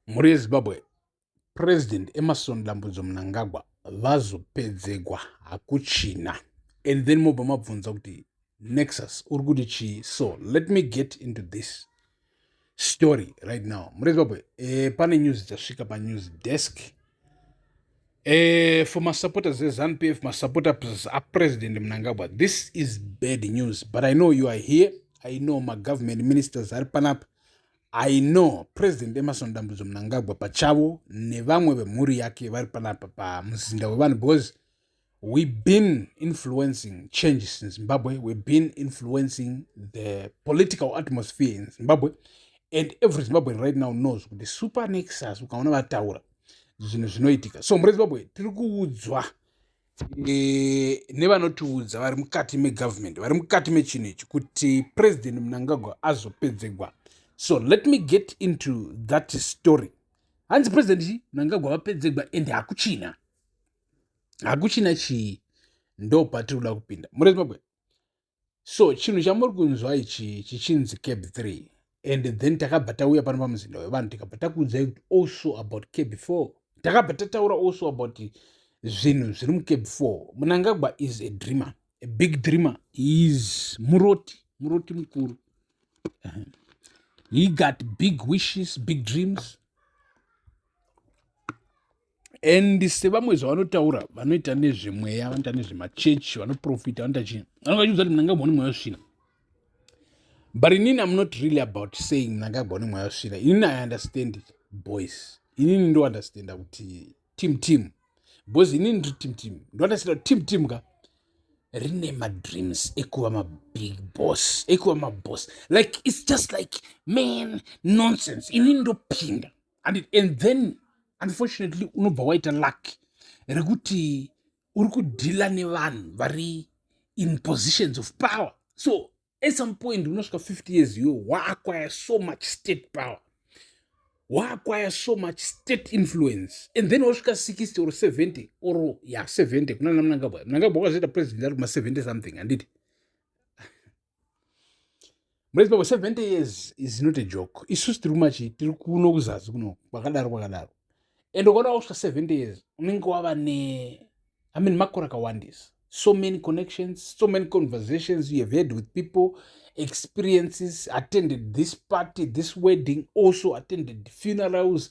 Mhuri yeZimbabwe, President Emerson Dambudzo Mnangagwa vazopedzegwa hakuchina and then mobva mabvunza kuti nexus uri kuti chii so let me get into this story right now mhuri yezimbabwe eh, pane news dzasvika panews desk eh, for masupporters ezanup f masupporters apresident mnangagwa this is bad news but i know you are here i know magovernment ministers ari panapa I know President Emerson Dambudzo Mnangagwa pachavo nevamwe vemhuri yake vari panapa pamuzinda wevanhu because we been influencing changes in Zimbabwe, we been influencing the political atmosphere in Zimbabwe and every Zimbabwean right now knows kuti super nexus ukaona vataura zvinhu zvinoitika so mhuri yezimbabwe tiri kuudzwa e, nevanotiudza vari mukati megovernment vari mukati mechinhu ichi kuti president munangagwa azopedzegwa so let me get into that story hanzi president munangagwa vapedzegwa and hakuchina hakuchina chii ndo patiri kuda kupinda murezimbabwe so chinhu chamuri kunzwa ichi chichinzi cab 3 and then takabva tauya pano pamuzinda wevanhu tikabva takuudzai kuti also about cab 4 takabva tataura also about zvinhu zviri mucab 4 munangagwa is a dreamer a big dreamer is muroti muroti mukuru he got big wishes big dreams and sevamwe zvavanotaura vanoita nezvemweya vanoita nezvemachechi vanoprofita vanoita chii vanenge vachiudza kuti mnangagwa une mweya wesvina but inini am not really about saying mnangagwa une mweya wesvina inini i understand it boys inini ndounderstanda kuti team team because inini ndiri team team ndounderstanda kuti team team ka rine madreams ekuva mabig boss ekuva maboss like its just like man nonsense inini ndopinda and, and then unfortunately unobva waita luck rekuti uri kudhila nevanhu vari in positions of power so at some point unosvika 50 years iwe waakwaya so much state power waakwaya so much state influence and then wasvika 60 or 70 or ya 70 kuna namnangagwa mnangagwa wakazoita president ari kuma 70 something handiti murezimbabwe 70 years is not a joke isusu tiri kumachi tiri kuno kuzazi kuno kwakadaro kwakadaro and ukaona wakusvika 70 years unenge wava ne i mean makore akawandisa so many connections so many conversations you have heard with people experiences attended this party this wedding also attended funerals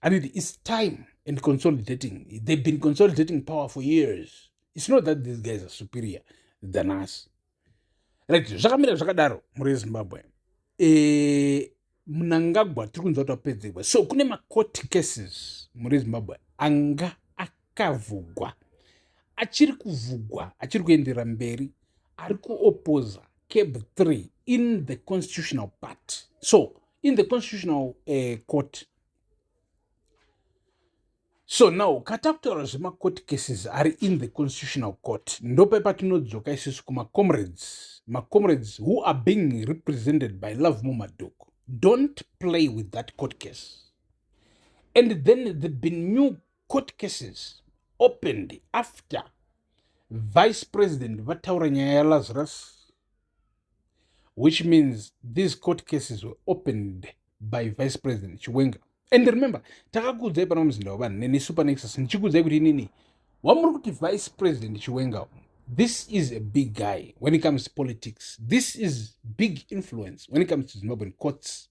anoti its time and consolidating they've been consolidating power for years its not that these guys are superior than us right zvakamira zvakadaro mhuri yezimbabwe e, eh, munangagwa tiri kunzwa kuti wapedzegwa so kune macourt cases mhuri yezimbabwe anga kavhugwa achiri kuvhugwa achiri kuenderera mberi ari kuopoza cab 3 in the constitutional party so in the constitutional uh, court so now katakutaura zvemacourt cases ari in the constitutional court ndope patinodzoka isusu kumacomrades macomrades who are being represented by love mumadoko don't play with that court case and then they've been new court cases opened after vice president vataura nyaya yalazarus which means these court cases were opened by vice president chiwenga and remember takakuudzai pana muzinda wevanhu nenesu pane exas ndichikuudzai kuti inini wamuri kuti vice president chiwenga this is a big guy when it comes to politics this is big influence when it comes to zimbabwean courts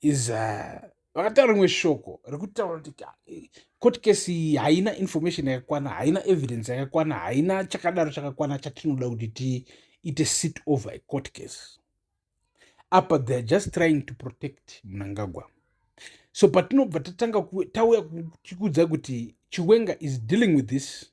is uh, vakataura rimwe shoko rekutaura kuti court case iyi haina information yakakwana haina evidence yakakwana haina chakadaro chakakwana chatinoda kuti tiite sit over a court case apa theyare just trying to protect munangagwa so patinobva tatanga tauya tichiudza kuti chiwenga is dealing with this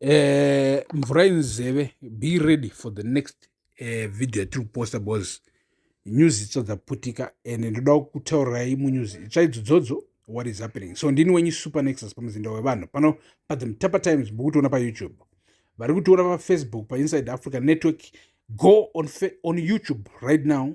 Eh, mvura inzeve be ready for the next uh, video yatiri kuposta bcause news itso dzaputika and ndoda kutaurirai munews itsva idzodzodzo what is happening so ndini wenyu super nexus pamuzinda wevanhu pano pathe mutapa times mukutiona payoutube vari kutiona pafacebook painside africa network go on, on youtube right now